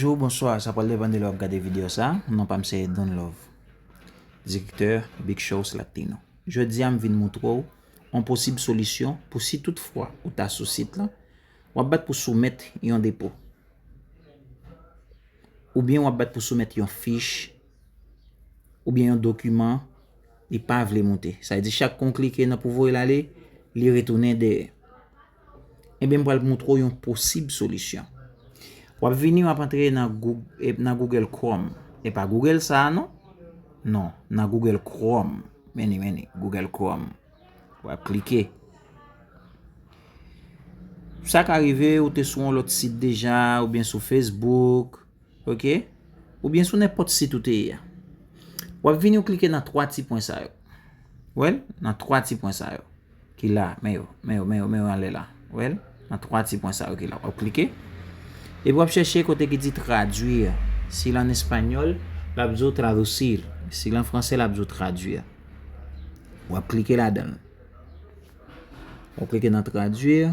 Bonjou, bonswa, sa pral depan de lè wap gade video sa, non pam se Don Love, direktè Big Shows Latino. Jodi a m vin moutre w on posib solisyon pou si tout fwa ou ta sou sit lan, wap bat pou soumèt yon depo, oubyen wap bat pou soumèt yon fich, oubyen yon dokiman li pa vle moute. Sa vle di chak kou w klike nan pou voye l ale, li retounen dèyè. Ebyen m pral moutre w yon posib solisyon. Wap vini wap antre nan Google Chrome. E pa Google sa a non. Non, nan Google Chrome. Meni meni, Google Chrome. Wap klike. Sa ka rive ou te sou yon lot sit deja, oubyen sou Facebook. Ok, oubyen sou nenpòt sit ou te ye a. Wap vini ou klike nan 3 ti pwen sa yo. Ou wèl? Nan 3 ti pwen sa yo. Ki la, men yo, men yo, men yo, men yo anlè la. Ou wèl? Nan 3 ti pwen sa yo ki la. Wap klike. Epi wap chèche kote ki di traduire. Si lan espanyòl, lap di ou traducir. Si lan fransè, lap di ou traduire. Wap klike ladanl. Wap klike nan traduire.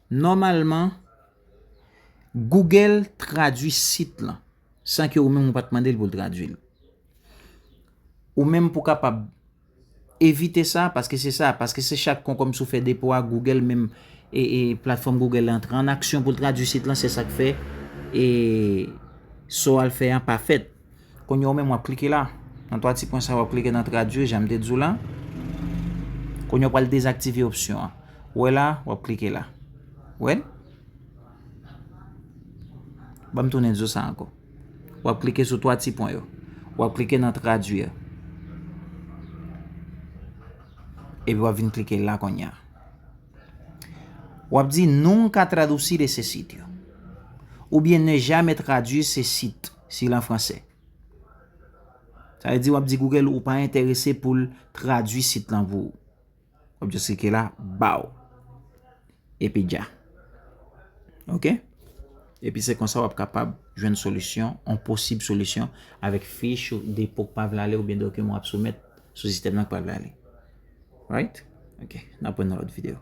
Nòmalman, Google tradui sit lan san ke ou menm ou pa t mande l pou l tradui l. Ou menm pou kapab evite sa, paske se sa, paske se chak konkonm sou fè depo a, Google menm, platfòm Google la antre an aksyon pou l tradui sit lan, se sa k fè sa w al fè an pa fèt. Kounye a ou menm wap klike la. Nan 3 ti pwen sa yo wap klike nan tradwir janm te di w la. Kounye a ou pral dezaktive opsyon an. Ou wè la, wap klike la. Ou wè l? Banm tounen di w sa ankò. Wap klike sou 3 ti pwen yo. Wap klike nan tradwir. Epi wap vin klike la kounye a. Wap di nunca traducir ese sitio. Oubyen ne jamais traduire ce site. Si l an fransè. Sa vle di w ap di Google ou pa enterese pou l tradui sit lan pou ou. W ap jis klike la, baw. Epi dja. Ok? Epi se konsa w ap kapab jwenn solisyon, yon posib solisyon avèk fich ou depo k pa vle ale oubyen dokiman w ap soumèt sou sistèm nan k pa vle ale. Right? Ok. N ap wè nan lòt videyo.